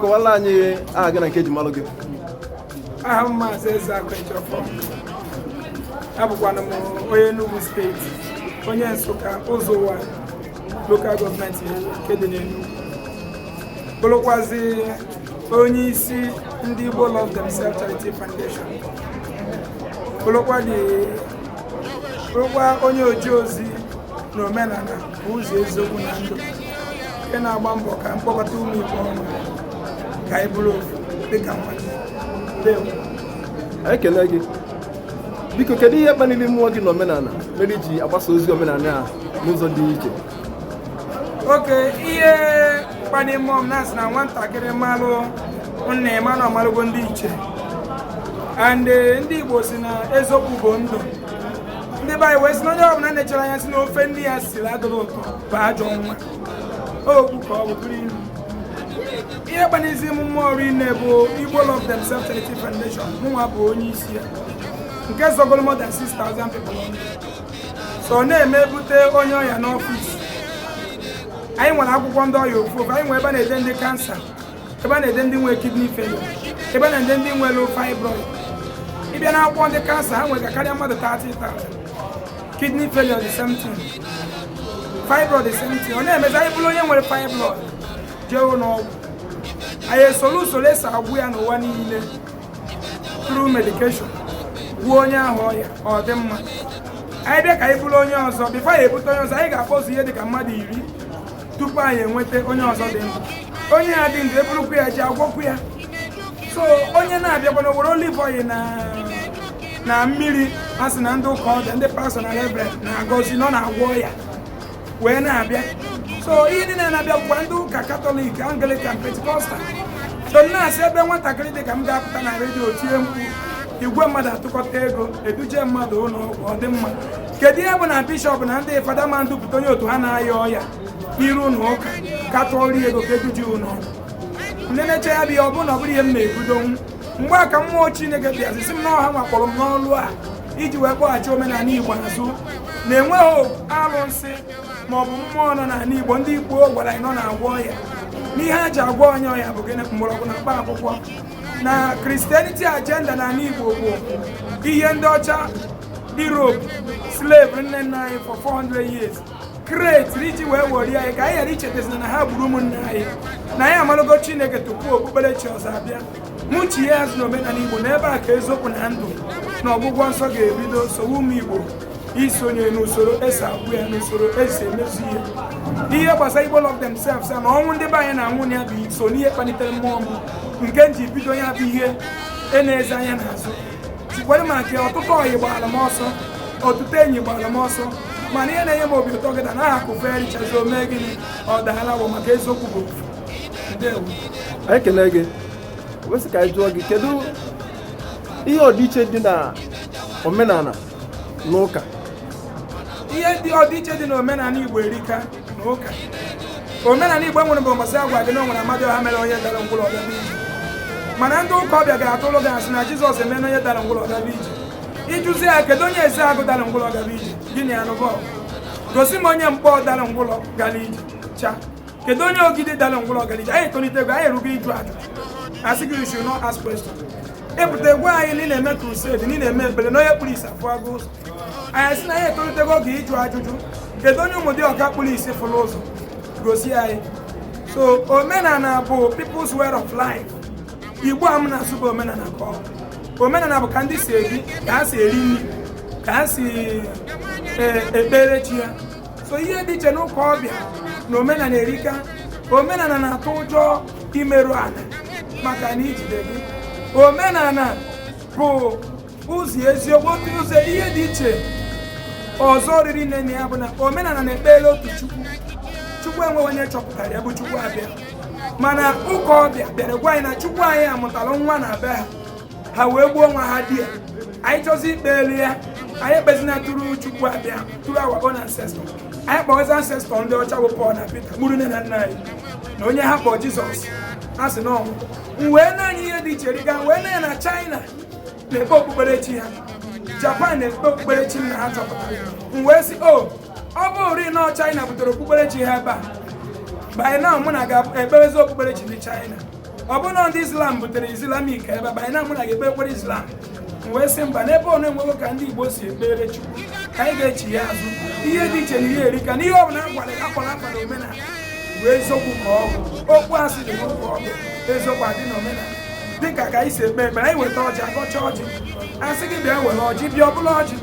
kọwala anyị aha gị na nke eji malụ gị aha m maazị eze akajiọfọ abụkwanụ m onye Enugu steeti onye Nsụka ụzọ ụwa lokal gọọmenti nke dị n'Enugu bụrụkwazi onye isi ndị Igbo Love Themselves Charity Foundation bụrụkwa onye oje ozi na omenala ụzọ eziokwu na ndụ nke na-agba mbọ ka m kpọkọta ụmụ Igbo ọnụ ka anyị bụrụ ofu dịka mmadụ ekele gị biko kedu ihe kpaliri mmụọ gị na omenala mere i ji agbasa ozi omenala a n'ụzọ dị iche oke ihe kpaliri mmụọ m na a sị na nwatakịrị malụ nna ya ma na ọ malụgo ndị ichie and eh, ndị Igbo sị na eziokwu bụ ndụ ndị be anyị wee sị na onye ọbụla na-echere anya sị na ofe nne ya siri adịrọ ụtọ bụ ajọ nwa okwu ka ọ bụ bụrụ ilu ihe kpanizi m mmụọ rinne bụ Igbo Love Themselves Charity Foundation mụnwa bụ onye isi ya nke zọgoro more than 6,000 people so ọ na-eme bute onye ọya n'ọfịs anyị nwere akwụkwọ ndị ọya ofu ofu anyị nwere ebe a na-ede ndị kansa ebe a na-ede ndị nwere kidney failure ebe a na-ede ndị nwere fibroid ị bịa na akwụkwọ ndị kansa ha nwere karịa mmadụ 30,000 kidney failure the same thing fibroid the same thing ọ na-emezi anyị buru onye nwere fibroid jee ụlọ ọgwụ anyị esoro usoro e si agwọ ya n'ụwa niile through medication gwọọ onye ahụ ọya ọ dị mma anyị bịa ka anyị buru onye ọzọ bifo anyị ebute onye ọzọ anyị ga-akpọzu ihe dị ka mmadụ iri tupu anyị enweta onye ọzọ dị ndụ onye ya dị ndụ e burukwu ya je agwọkwu ya so onye na-abịakwana were olive oil na mmiri a sị na ndị ụka ọbịa ndị pastọ na reverend na-agọzi na ọ na-agwọ ọya wee na-abịa so ndị na-abịa bụkwa ndị ụka katọlik anglikan pentikọstal so m na-asị ebe nwatakịrị dị ka m ga-apụta na redio tie mkpu igwe mmadụ atụkọta ego eduje mmadụ ụlọ ọgwụ ọ dị mma kedu ihe bụ na bishọp na ndị fada ama edupụta onye otu ha na-aya ọya iru ụnọ ụka ka a tụọrọ ya ego ka e duje ụlọ ọgwụ ndị na-eche ya bụ ihe ọ bụrụ na ọ bụrọ ihe m na-ebudonwu mgbe a ka mmụọ chineke bịazi sị m na ọ hanwa kpọrọ m n'ọlụ a iji wee kpọghachi omenala igbo azụ na enweghị alụsị ma ọ bụ mmụọ nọ n'ala igbo ndị gboo gwara anyị na ọ na-agwọ ọya na ihe e ji agwọ onye ọya bụ gịnị mgbọrọgwụ na mkpa akwụkwọ na Christianity agenda n'ala igbo bụ ihe ndị ọcha Europe slave nne nna anyị for 400 years create religion wee were anyị ka anyị ghara ichetazina na ha gburu ụmụnne anyị na anyị amalụgo Chineke tupu okpukperechi ọzọ abịa mụ chighaa azụ na omenala Igbo na ebe a ka eziokwu na ndụ na ọgwụgwọ nsọ ga-ebido so ụmụ Igbo isonye n'usoro esi agwọ ya n'usoro esi emezu ihe ihe gbasara Igbo love themselves na ọnwụ ndị be anyị na-anwụ na ya bụ so n'ihe kpalitere mmụọ m nke m ji bido ya bụ ihe e na-eze anya n'azụ tikwere maka ọtụtụ ọyị gbara m ọsọ ọtụtụ enyi gbara m ọsọ mana ihe na-enye m obi ụtọ kịta na akụ feerichazi o mee gịnị ọ daala awọ maka eziokwu bụ ofu ndewo anyị kelee gị wee sị ka anyị jụọ gị kedu ihe ọdịiche dị na omenala na ụka ihe dị ọdịiche dị n'omenala igbo erika omenala igbo enwerọ mbọsị agwa gị na o nwere amadịọha mere onye dara ngwụlọ ọ gaba ije mana ndị ụka ọbịa ga-atụlụ gị asị na jizọs emena onye dara ngwụlọ ọ gaba ije ị jụzi ya kedu onye ezeagụ dara ngwụlọ gaa ije gị na ya anụba gosi m onye nkpọ dara ngwụlọ gara ije cha kedu onye ogidi dara ngwụlọ gara ije anyị etolitego anyị erugo ịjụ ajụjụ asị gị you not ask question ị pụta agwa anyị na ị na-eme crusade na ị na-eme ekpere na onye kpụrụ isi afụgo ụzọ anyị sị na anyị etolitego oge ịjụ ajụjụ kedu onye ụmụdịọka kpụrụ isi fụrụ ụzọ gosi anyị so omenala bụ people's way of life igbo a m na-asụ bụ omenala ka ọ omenala bụ ka ndị si ebi ka ha si eri nri ka ha si e, ekpere chi ya so ihe dị iche n'ụka ọbịa na omenala erika omenala na-atụ ụjọ imerụ ala maka na ijide gị omenala bụ ụzọ eziokwu otu ụzọ ihe dị iche ọzọ riri nne na ya bụ na omenala na-ekpere otu chukwu chukwu enweghị onye chọpụtara ya bụ chukwu abịama mana ụka ọbịa bịara gwa anyị na chukwu anyị mụtara nwa na be ha ha wee gbuo nwa ha di ya anyị chọzi ikpelu ya anyị ekpezina through chukwu abịama through our own ancestor anyị kpọzi ancestor ndị ọcha bụ Pọl na Pita gburu nne na nna anyị na onye ha kpọ Jizọs a sị na ọnwụ m wee nee anya ihe dị iche erika wee nee anya na China na-ekpe okpukperechi ha japan na-ekpe okpukperechi nna ha chọpụtara m wee sị o ọ bụrụ na china butere okpukperechi ha ebe a by now mụ na gị ga-ekpebezi okpukperechi ndị china ọ bụ na ndị islam butere islamic ebe a by now mụ na gị ga-ekpe ekpere islam m wee sị mba n'ebe ọ bụ na e nwere ka ndị igbo si ekpere chukwu ka anyị ga-echigha azụ ihe dị iche na ihe erika na ihe ọ bụla agwara akwara akwa na omenala bụ eziokwu ka ọ bụ okwu asị dị n'ụka ọ bụ eziokwu adị na omenala dịka ka anyị si ekpe ekpere anyị weta ọjị agọcha ọjị asị gị bịa were ọjị bịa ọ bụrụ ọjị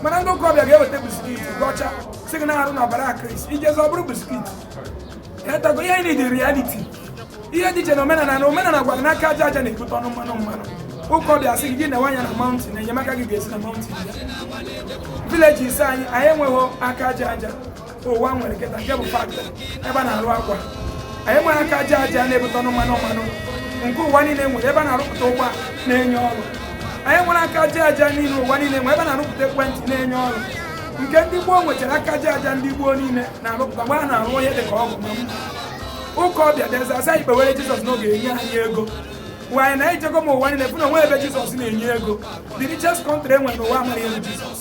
mana ndị ụka ọbịa ga-eweta biskit gọcha sị gị na arụ na ọbara Kraịst i jezi ọ bụrụ biskit etago ihe anyị dị reality ihe dị iche na omenala na omenala gwara na aka aja aja na-ebute ọnụ mmanụ mmanụ ụka ọbịa sị gị gị newe anya na mountain enyemaka gị ga-esi na mountain village ise anyị anyị enweghị aka aja aja ụwa nwere kịta nke bụ factory ebe a na-arụ akwa anyị nwere aka aja aja na-ebute ọnụ mmanụ mmanụ nke ụwa niile nwere ebe a na-arụpụta ụgbọ na-enye ọrụ anyị nwere aka aja aja niile ụwa niile nwere ebe a na-arụpụta ekwentị na-enye ọrụ nke ndị Igbo nwechara aka aja aja ndị Igbo niile na-arụpụta mgbe a na-arụ onye dị ka ọgwụ ma mma ụka ọbịa bịazi asị kpeere jizọs na ọ ga-enye anyị ego wanyị na ijego ma ụwa niile fụ na o nwe ebe jizọs na-enye ego the richest country enwere n'ụwa amaghị elu jizọs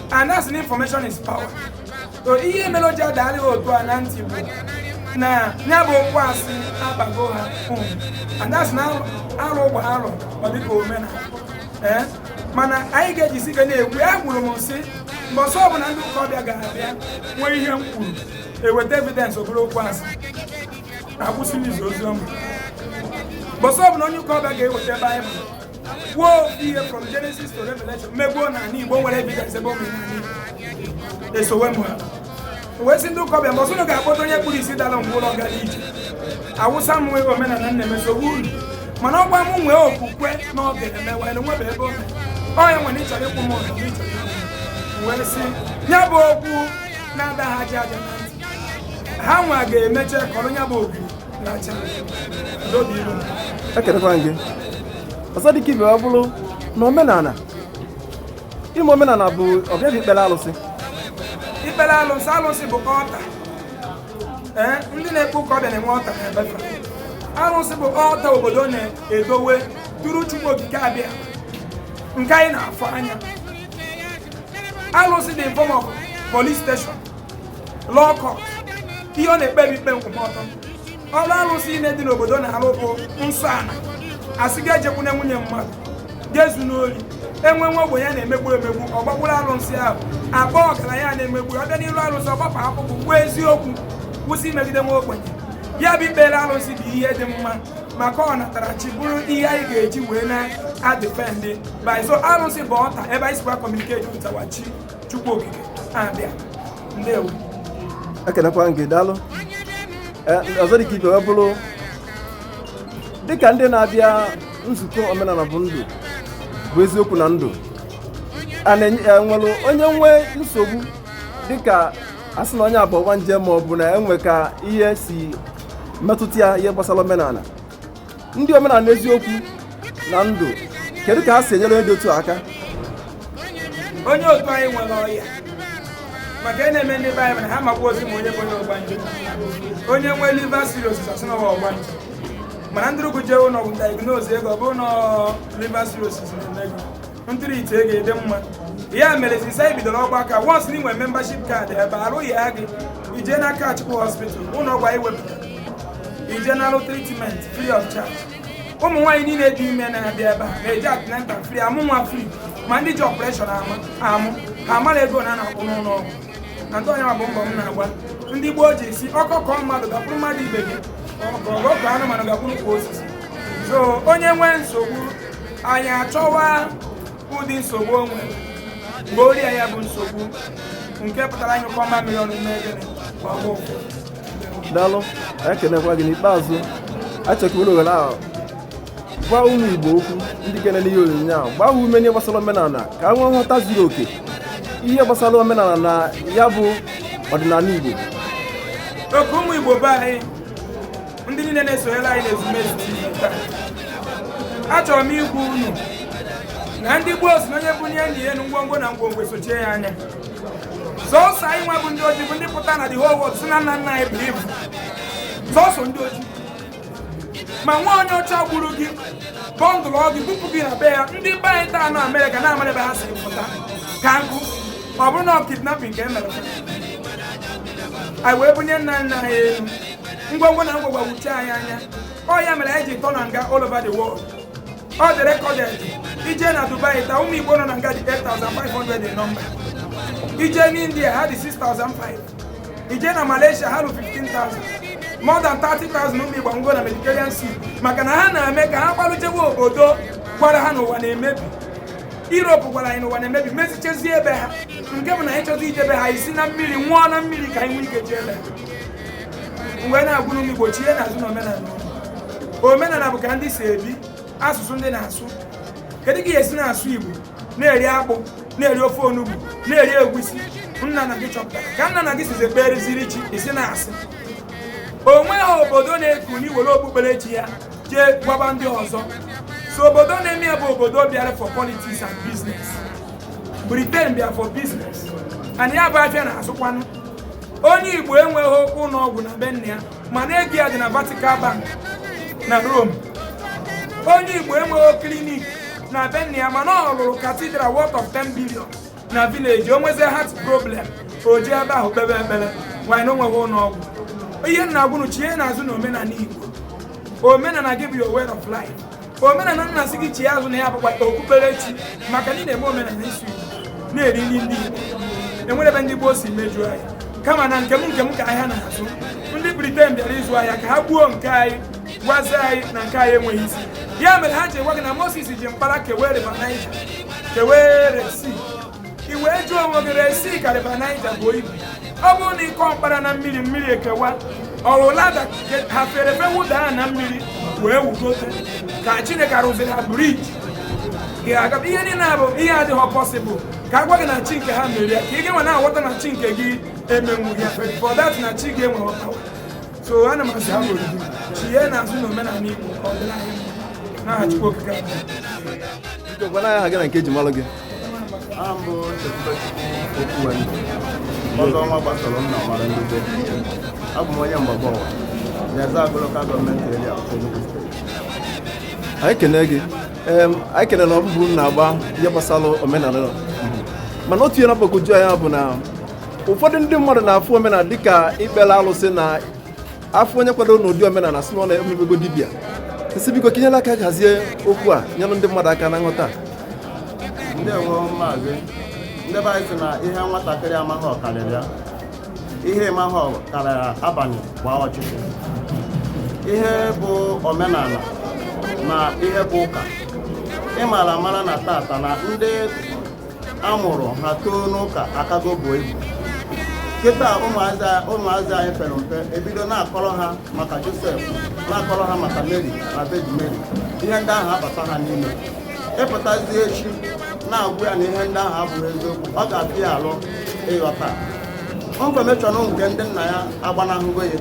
a na-asị na information is power so ihe mere o ji adagharị ha otu a na ntị bụ na ya bụ okwu asị abago ha a na-asị na alụ gbaa arọ ọ dịka omenala ee mana anyị ga-ejisi ike na-ekwu ya ekwuru m sị mbọsị ọbụla ndị ụka ọbịa ga-abịa nwee ihe m kwuru eweta evidence ọ bụrụ okwu asị akwụsị m izi ozi ọma mbọsị ọbụla onye ụka ọbịa ga-eweta baịbụl kwuo ofu ihe from Genesis to Revelation mego na ala Igbo nwere evidence ebe ụmụ esowe m ha wee sị ndị ụka ọbịa mbọsị unu ga-akpọta onye kpụrụ isi dara ngwụlọ gara ije awụsa m nwee omenala nna emesogbu unu mana ọ gwa m nwee okwukwe na ọ ga-emewe na nwebe ebe oge ọ ya nwere ịchọrọ ịkwụ m ụlọ wee si ya bụ okwu na-ada ha aja aja na ntị ha nwa ga-emecha kọrọ ya bụ okwu ekelekwa gị ọzọ dịka ibe ọ bụrụ na omenala ime omenala bụ ọ bụ ya bụ ikpere alụsị ikpere alụsị alụsị bụ altar ee ndị na-ekpe ụka ọbịa na-enwe altar na be fa alụsị bụ altar obodo na-edowe duru chukwu okike abịa nke anyị na-afụ anya alụsị dị form of police station law court ihe ọ na-ekpebi ikpe nkwụmọtọ ọrụ arụsị niine dị n'obodo na-arụ bụ nsọ ala asị gị ejekwune nwunye mmadụ gị ezuna ori enwe nwa ogbenye na-emegbu emegbu ọ gbakwuru arụsị ahụ akpọọ ọgaranya na-emegbu ọ bịa n'iru arụsị ọ gbapụ akpụkpụ kwuo eziokwu kwụsị imegide nwa ogbenye ya bụ ikpere arụsị bụ ihe dị mma maka ọ natara chi bụrụ ihe anyị ga-eji wee na-adịfendị by so arụsị bụ altar ebe anyị sikwa communicate to our chi Chukwu okike abịa ndewo ekelekwa gị daalụ Eh, ọzọ dịka ibe wee bụrụ dịka ndị na-abịa nzukọ omenala bụ ndụ bụ eziokwu na ndụ a na-enye- e nwere onye nwee nsogbu dịka asị na onye a bụ ọgbanje ma ọ bụ na enwe ka ihe si metụta ya ihe gbasara omenala ndị omenala eziokwu na ndụ kedu ka ha si enyere onye dị otu a aka onye otu anyị nwere ọya maka ihe na-eme ndị be anyị bụ na ha amakwarọzi ma onye bụ onye ọgbanje onye nwee liver cirrhosis a sị na ọ wụ ọgbanje mana e duru gị jee ụlọ ọgwụ diagnose gị ọ bụrụ na liver cirrhosis na-eme gị e treatie gị ị dị mma ya mere since anyị bidoro ọgbakọ a once na i nwee membership card ebe arụghị ya gị i jee n'Akachukwu hospital ụlọ ọgwụ anyị wepụta i jee nalụ treatment free of charge ụmụ nwaanyị niile dị ime na-abịa ebe a na-eje antenatal free amụ nwa free ma ndị ji operation amụ ha amarọ ego a na-akwụ n'ụlọ ọgwụ and ọ nya bụ mbọ m na-agba ndị gboo ji sị ọkọ kọọ mmadụ gakwuru mmadụ ibe gị ọkọ kọọ anụmanụ gakwuru kwa osisi so onye nwee nsogbu anyị achọwa ụdị nsogbu o nwere mgbe ọrịa ya bụ nsogbu nke pụtara anyị kọma mmiri ọnụ n'ebe ọgwụ daalụ anyị ekenekwa gị n'ikpeazụ anyị chọ ka i were ohere ahụ gwa ụmụ igbo okwu ndị ga-enene ihe onyonyo ahụ gbaa ha ume n'ihe gbasara omenala ka ha nwee nghọta zuru oke ihe gbasara omenala na ya bụ ọdịnala igbo okay ụmụ igbo be anyị ndị niile na-esonyere anyị n'ezumezu achọrọ m ịgwa unu na ndị gboo sị na onye bunye nna ya elu ngwongwo na ngwongwo esochie ya anya sọsọ anyị nwa bụ ndị ojii bụ ndị pụta na the whole world sị na nna nna anyị buru ibu sọsọ ndị ojii ma nwa onye ọcha gburu gị bundle gị bupụ gị na be ya ndị be anyị taa na amerịka na amarọ ebe ha si pụta ka nkụ ọ bụrụ na ọ kidnapping ka e mere anyị wee bunye nna nna anyị elu ngwongwo na ngwongwo wuchie anyị anya ọ ya mere anyị ji tọ na nga all over the world ọ dị recorded i jee na dubai taa ụmụ igbo nọ na nga dị 8500 in number i jee n'india ha dị 6500 i jee na malaysia ha lụ 15000 more than 30000 ụmụ igbo nwụọ na mediterranean sea maka na ha na-eme ka ha gbalụ jewe obodo gwara ha na ụwa na-emebi Europe gwara anyị na ụwa na-emebi mezichezie ebe ha nke bụ na anyị chọzi ije be ha esi na mmiri nwụọ na mmiri ka anyị nwee ike jee ebe ha m wee na-agwa ụmụ igbo chienụ azụ na omenala omenala bụ ka ndị si ebi asụsụ ndị na-asụ kedu ka ị si na-asụ igbo na-eri akpụ na-eri ofe onugbu na-eri egwusi nna nna gị chọpụtara ka nna nna gị sizi ekpereziri chi ị sị na asị onweghị obodo na-ekunie were okpukperechi ya jee gwaba ndị ọzọ so obodo na-eme ya bụ obodo bịara for politics and business Britain bịara for business and ya bụ afịa na-azụkwanụ onye igbo enweghị ụlọ ọgwụ na be nna ya mana ego ya dị na vatican bank na rome onye igbo enweghị klinik na be nna ya mana ọ rụrụ cathedral worth of 10 billion na village o nwezie heart problem o jee ebe ahụ kpebe ekpere while na o nweghị ụlọ ọgwụ ihe m na-agwa unu chienụ azụ na omenala igbo omenala gị bụ your way of life omenala m na-asị gị chie azụ na ya bụkwa okpukperechi maka na ị na-eme omenala ịsụ igbo na-eri nri ndị e nwere ebe ndị gboo si mejọọ anyị kama na nke m nke m ka ahịa na-azụ ndị britain bịara ịzụ ahịa ka ha gbuo nke anyị gwazie anyị na nke anyị enweghị isi ya mere ha ji gwa gị na moses ji mkpara kewee river niger kewee red sea i wee jụọ onwe gị red sea ka river niger buo ibu ọ bụrụ na ị kụọ mkpara na mmiri mmiri ekewa ọwụlada ha fere fe wụda ha na mmiri wee wugote ka chineke arụziri ha bridge ga-aga ihe niile a bụ ihe adịghị possible ka a gwa gị na chi nke ha mere ya ka ị ga-enwe na-aghọta na chi nke gị emenwughị ya so that na chi gị enweghị power so ana m asị ha bụ oriri chienụ azụ na omenala igbo ọdịnala n'aha chukwu okike abịama Biko, gwanụ anyị aha gị na nke eji malụ gị ọzọ ọnwa gbasara nna mara ndị be abụ m onye mgbagbu ọwa na ezeagụ local government area anyị kene gị anyị kene na mbọ ị na-agba ihe gbasara omenala mana otu ihe na-agbagwoju anya bụ na ụfọdụ ndị mmadụ na-afụ omenala dịka ikpere alụsị na afụ onye kwadoro n'ụdị omenala a sị na ọ mebego dibịa nsị biko ka i nyere aka hazie okwu a nyere ndị mmadụ aka na nghọta ndewo maazị ndị be anyị sị na ihe nwatakịrị amaghị ọ karịrị ya ihe ị maghị ọ karịrị abalị gbaa ọchịchị ihe bụ omenala na ihe bụ ụka ị mara amara na tata na ndị a mụrụ ha too n'ụka akago buo ibu kịta ụmụazị anyị pere mpe ebido na-akọrọ ha maka joseph na-akọrọ ha maka mary na virgin mary ihe ndị ahụ abata ha n'ime ị pụtazie echi na-agwa ya na ihe ndị ahụ abụghị eziokwu ọ ga-afịa ya alụ ịghọta information nke ndị nna ya agbanahụgo ya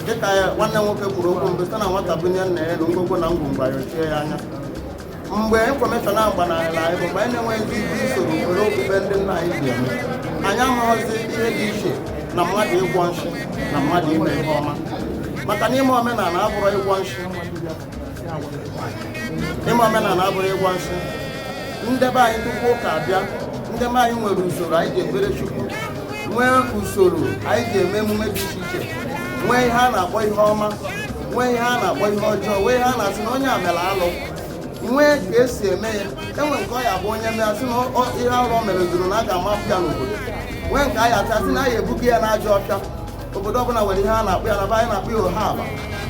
dịka nwanne nwoke kwuru okwu mbụ sị na nwata bunie nna ya enu ngwongwo na ngwongwo ya ayọchie ya anya mgbe information ahụ gbanarịla anyị bụ mgbe anyị na-enweghị ike usoro were okpukpe ndị nna anyị ji eme anyị amaghịzi ihe dị iche na mmadụ ịgwọ nshi na mmadụ ime ihe ọma maka na ime omenala abụrọ ịgwọ nshi ime omenala abụrọ ịgwọ nshi ndị be anyị tupu ụka abịa ndị be anyị nwere usoro anyị ji ekpere chukwu nwee usoro anyị ji eme emume dị iche iche nwee ihe a na-akpọ ihe ọma nwee ihe a na-akpọ ihe ọjọọ nwee ihe a na-asị na onye a mere alụ nwee ka esi eme ya enwee nke ọ ya-abụ onye mee asị na ihe alụ o mere zuru na a ga-amapụ ya n'obodo nwee nke a ya asị asị na a ya ebuga ya n'ajọ ọfịa obodo ọbụla nwere ihe a na-akpọ ya na be anyị na-akpọ ya oha aba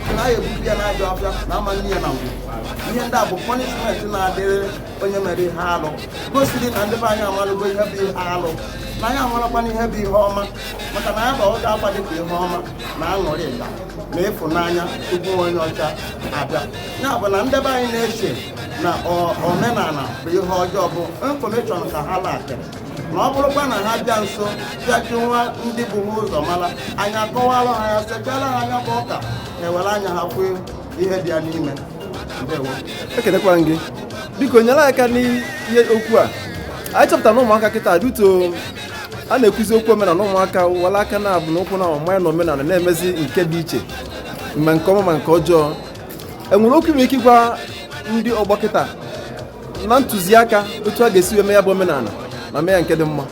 sị na a ya ebuga ya n'ajọ ọfịa na ama nne ya na ngwu ihe ndị a bụ punishment na-adịrị onye mere ihe alụ gosiri na ndị be anyị amalụgo ihe bụ ihe alụ na anyị amalụkwana ihe bụ ihe ọma maka na anyị bụ ọga akwa dịka ihe ọma na aṅụrịka na ịfụnanya tupu onye ọcha abịa ya bụ na ndị be anyị na-eche na ọ- omenala bụ ihe ọjọọ bụ infọmeshọn ka ha lakịrị na ọ bụrụkwa na ha bịa nso bịa jụwa ndị bu ha ụzọ mara nya akọwara ha ya sechara ha nya bụ ụka na ewere anya ha fụ ihe dị ya n'ime ndewo ekenekwara m gị biko nyere aka n'ihe okwu a anyị chọpụtara na ụmụaka kịta duto a na-ekwuzi okwu omenala ụmụaka were aka naabụ na ụkwụ na-awụbanye na omenala na-emezi nke dị iche ma nke ọma ma nke ọjọọ enwere okwu i nwere ike ịgwa ndị ọgbọ kịta na ntụziaka otu a ga-esi wee mee ya bụ omenala ma mee ya nke dị mma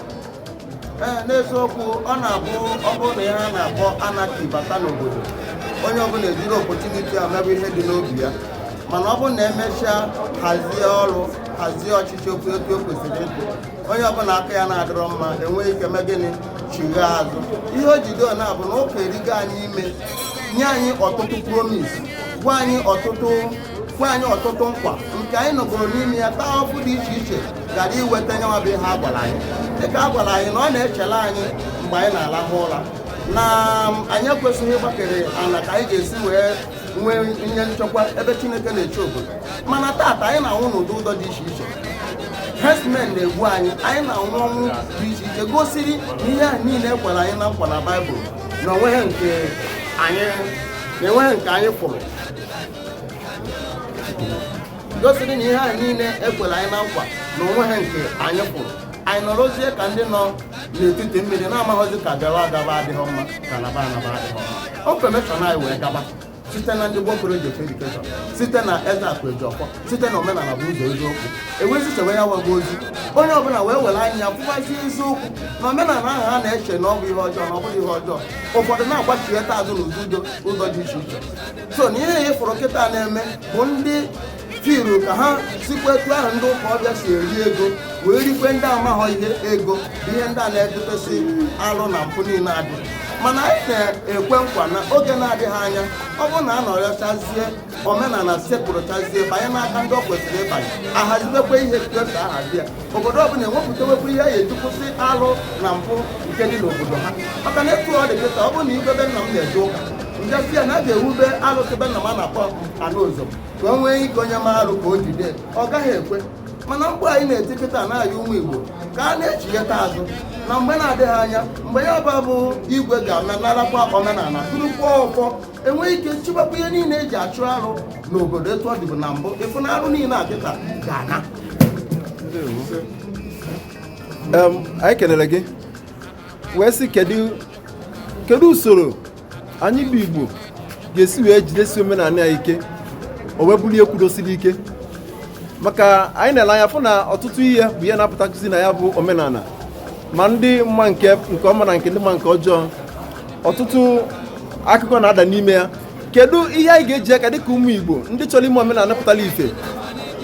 n'eziokwu ọ na-abụ ọ bụrụ na ihe a na-akpọ anarchy bata n'obodo onye ọbụla ejiri opportunity a mebe ihe dị n'obi ya mana ọ bụrụ na emechaa hazie ọrụ hazie ọchịchị okwu etu o kwesịrị ịdị onye ọbụla aka ya na-adịrọ mma enweghị ike mee gịnị chighe azụ ihe o jido ya bụ na ụka erigo anyị ime nye anyị ọtụtụ promise gwa anyị ọtụtụ gwa anyị ọtụtụ nkwa nke anyị nọgoro n'ime ya taa ụfụ dị iche iche gara iweta nyanwa bụ ihe a gwara anyị dịka a gwara anyị na ọ na-echela anyị mgbe anyị na-alahụ ụra na um, anyị ekwesịghị ịgbakere ala ka anyị ga-esi wee nwee ihe nchekwa ebe Chineke na-eche obodo mana taata anyị na-anwụ n'ụdị ụzọ dị iche iche herdsmen na-egbu anyị anyị na-anwụ ọnwụ dị iche iche gosiri na ihe ahụ niile ekwere anyị na nkwa na baịbụl na onweghị nke anyị fụrụ gosiri na ihe ahụ niile ekwere anyị na nkwa na onweghị nke anyị fụrụ anyị nọrọzie ka ndị nọ n'etiti mmiri na-amaghịzi ka gawa agaba adịghị mma ka naba anaba adịghị mma infọmeshọn anyị wee gaba site na ndị gboo kọleji of edukeshọn site na Ezeakụ Ejiọfọ site na omenala bụ ụzọ eziokwu ewezi chewe ya wago ozi onye ọbụla wee were anya ya fụwazi eziokwu na omenala ahụ ha na-eche na ọ bụ ihe ọjọọ na ọ bụghị ihe ọjọọ ụfọdụ na-agbachigheta azụ n'ụzọ udo ụzọ dị iche iche so na ihe a ị fụrụ kịta na-eme bụ ndị tiru ka ha sikwa etu ahụ ndị ụka ọbịa si eri ego wee rikwe ndị amaghọ ihe ego bụ ihe ndị a na-edutesị alụ na mpụ niile adị mana anyị na-ekwe nkwa na oge na-adịghị anya ọ bụrụ na a nọrọchazie omenala sekpụrụchazie banye n'aka ndị ọ kwesịrị ịbanye ahazibekwa ihe etu e si ahazi ya obodo ọbụla enwepụtawekwa ihe a ya-eji kwụsị alụ na mpụ nke dị n'obodo ha maka na etu ọ dị kịta ọ bụrụ na i dobe nna m na-eje ụka m bịa sị ya na a ga-ewube alụsị be nna m a na-akpọ anụ ụzọ ka o nwee ike onye mee arụ ka o jide ọ gaghị ekwe mana mkpu anyị na-eti kịta na-ayọ ụmụ Igbo ka a na-echighata azụ na mgbe na-adịghị anya mgbe ya bụ abụ igwe ga-anarakwa omenala tụrụkwa ọfọ e nwezie ike chịbakwa ihe niile eji achụ arụ n'obodo etu ọ dịbu na mbụ ị fụ na arụ niile a kịta ga-ana anyị kelere gị wee sị kedu usoro anyị bụ Igbo ga-esi wee jidesi omenala ya ike o wee bulie kwudosiri ike maka anyị na-ele anya fụ na ọtụtụ ihe bụ ihe na-apụtakwuzi na ya bụ omenala ma ndị ma nke nke ọma na nke ndị ma nke ọjọọ ọtụtụ akụkọ na-ada n'ime ya kedu ihe anyị ga-eji aka dịka ụmụ Igbo ndị chọrọ ime omenala pụtara ife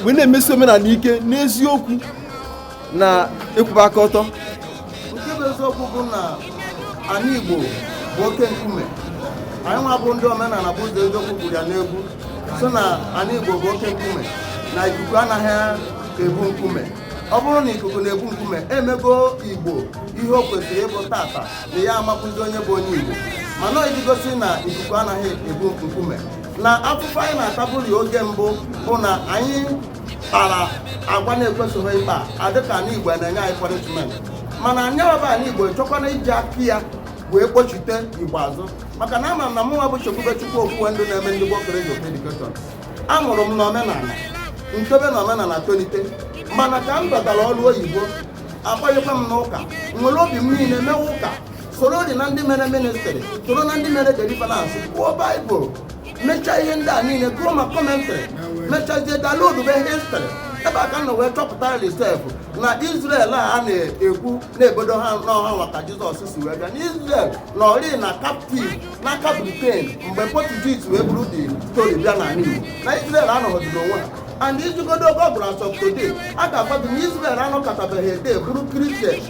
wee na-emesi omenala ike n'eziokwu na ịkwụba aka ọtọ nke bụ eziokwu bụ na anị Igbo bụ oke nkume anyị nwa bụ ndị omenala bụ ụzọ eziokwu kwuru ya n'egwu sị na anị Igbo bụ oke nkume na ikuku anaghị ebu nkume ọ bụrụ na ikuku na-ebu nkume emego Igbo ihe o kwesịrị ịbụ taata na ị ya amakwuzi onye bụ onye Igbo mana iji gosi na ikuku anaghị ebu nkume na afụfụ anyị na-ataburị oge mbụ bụ na anyị kpara agwa na-ekwesịghị ịkpa adịka anị igbo na-enye anyị punishment mana nya nwa bụ anị igbo chọkwana iji aka ya wee kpọchite igbo azụ maka na ama m na mụnwa bụ chekwube chukwu okwuwe ndụ na-eme ndị gboo college of education a mụrụ m n'omenala m tobe na omenala tolite mana ka m batara ọrụ oyibo a kpọnyekwa m n'ụka m were obi m niile mewe ụka sorodị na ndị mere ministrị soro na ndị mere deliverance kwuo baịbụl mechaa ihe ndị a niile gụọ ma kọmentrị mechazie downloadube histrị ebe a ka m nọ wee chọpụtarị sef na Izrel a na-ekwu na-ebodo ha na ọ ha nwa ka Jizọs si wee bịa na Izrel nọrịị na kaptiv n'aka Britain mgbe Portuguese wee buru the story bịa n'ala Igbo na Izrel anọghọdị n'onwe ha and i jegodu google search today a ga-agwa gị na Izrel anọkọtabeghị ede bụrụ kristian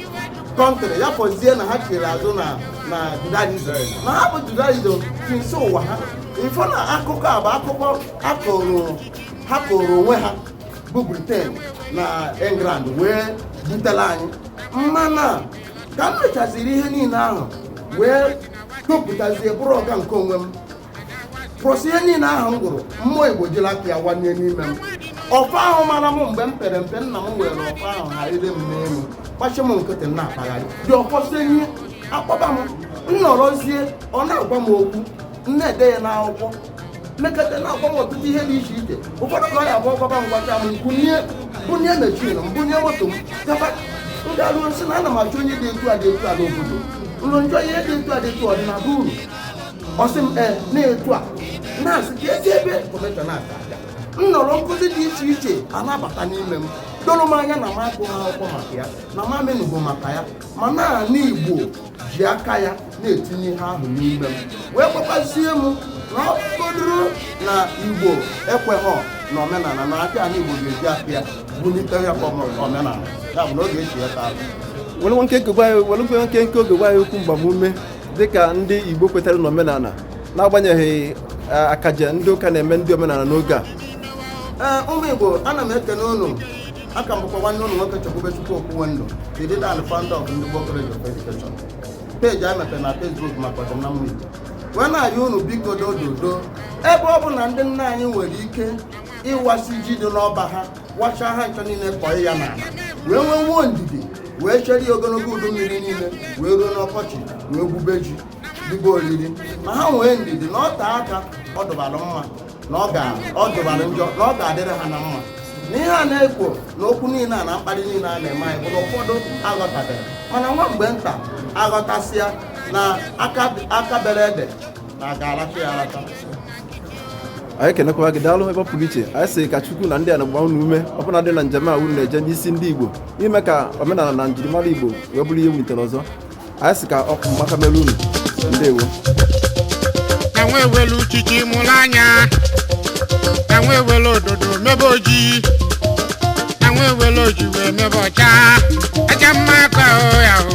kọntrị ya fọzie na ha chiri azụ na na judaism na ha bụ judaism since ụwa ha ị fụ na akụkọ a bụ akụkọ ha kọọrọ onwe ha bụ briten na england wee butela anyị mana ka m mechaziri ihe niile ahụ wee topụtazie bụrụ ọga nke onwe m plus ihe niile ahụ m gụrụ mmụọ igbo jiri aka ya wanye n'ime m ọfa ahụ mara m mgbe m pere mpe nna m were ọfa ahụ ha ire m n'elu gbachi m nkịtị na-akpagharị dị ọfọsị ihe akpọba m nnọrọzie ọ na-agwa m okwu m na-ede ya n'akwụkwọ mekata na-agwa m ọtụtụ ihe dị iche iche ụfọdụ ka ọ ya abụ ọ gwaba m gwacha m bunye bunye mechin m bunye moto m gaba m garuo m sị na ana m achọ onye dị etu a dị etu a n'obodo unu m jụọ ihe dị etu a dị etu ọ dị na be unu ọ sị m ee na etu a na-asị ka ezi ebe kọmeshọn na-ata aja m nọrọ nkụzi dị iche iche ana-abata n'ime m doro m anya na m agụghị akwụkwọ maka ya na m amenụgo maka ya mana anị igbo ji aka ya na-etinye ihe ahụ n'ime m wee gwakwazie m na ọ bụgoduru na igbo ekweghọ na omenala na aka anị igbo ga-eji aka ya bulite ya ka ọmụ- omenala ya bụ na oge echi ya taa were nkenke oge gwa anyị okwu mgbamume dịka ndị Igbo kwetara n'omenala n'agbanyeghị eh, akaja ndị ụka na-eme ndị omenala n'oge a eh, ụmụ Igbo ana m ekene unu aka m bụkwa nwanne unu nwoke Chekwubechukwu Okwuwendụ the leader and founder of Ndigbo College of Education peji anyị mepere na Facebook maka ọdịmma Igbo wee na-ayọ unu biko dododo ebe ọ bụ na ndị nna anyị nwere ike ịwasị ji dị n'ọba ha wachaa ha ncha niile kọọ ya n'ala wee nweenwuo ndidi wee chere ya ogologo udu mmiri niile wee ruo n'ọkọchị wee gwube ji ribe oriri ma ha nwee ndidi na ọ tee aka ọ dụbara mma na ọ dụbara njọ na ọ ga-adịrị ha na mma na ihe a na-ekwu na okwu niile a na mkparị niile a na-eme anyị bụ na ụfọdụ aghọtabere mana nwa mgbe nta aghọtasịa na aka bere ede anyị kenekwa gị daalụ ebe ọ pụrụ iche anyị sị ka chukwu na ndị a na-agba unu ume ọbụnadị na njem a unu na-eje n'isi ndị igbo ime ka omenala na njirimara igbo wee bụrụ ihe wulitere ọzọ anyị sị ka ọkụ maka mere unu ndewo ka nwa ewelu uchichi mụrụ anya ka nwa ewelu ododo mebe ojii ka nwa ewelu ojii wee mebe ọcha aja mma ka o ya o